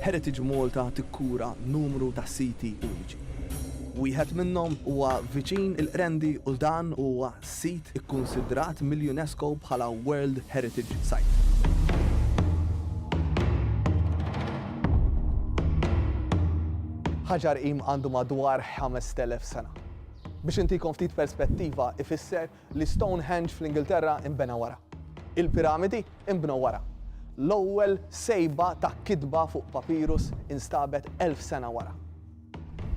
Heritage Malta tikkura numru ta' siti uniċi. Wieħed minnhom huwa viċin il-Qrendi u dan huwa sit ikkunsidrat mill-UNESCO bħala World Heritage Site. Ħaġar Qim għandu madwar 5,000 sena. Biex intikom ftit perspettiva ifisser Li Stonehenge fl-Ingilterra inbena wara. Il-piramidi inbnew wara. L-ewwel sejba ta' kitba fuq papirus instabet elf sena wara.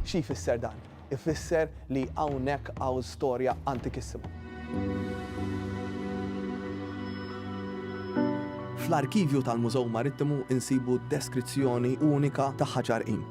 Xi jfisser dan? Ifisser li hawnhekk hawn storja antikissima. Fl-arkivju tal-Mużew Marittimu insibu deskrizzjoni unika ta' ħaġar qim.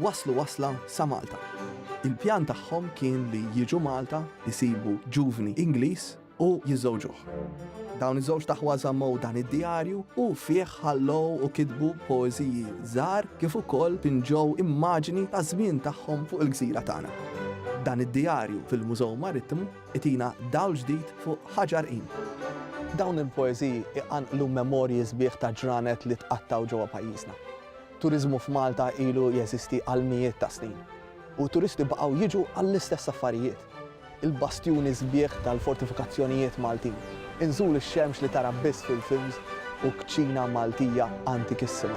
Waslu wasla sa Malta. Il-pjan tagħhom kien li jiġu Malta, isibu ġuvni Ingliż u jiżżewġuh. Dawn iż-żewġ taħwa żammew dan id-djarju u fih ħallew u kitbu poeżiji żgħar kif ukoll pinġew immaġini taż-żmien tagħhom fuq il-gżira tagħna. Dan id-djarju fil-Mużew Marittimu itina dawl ġdid fuq Ħaġ Għarqin. Dawn il-poeżiji jqanqlu memorji sbieħ ta' ġranet li tqattgħu ġewwa pajjiżna. Turiżmu f'Malta ilu jeżisti għal mijiet ta' snin u t-turisti baqgħu jiġu għall-istess affarijiet, il-bastjuni sbieħ tal-fortifikazzjonijiet Maltin, inżul ix-xemx li tara biss fil-films u kċina Maltija antikissima.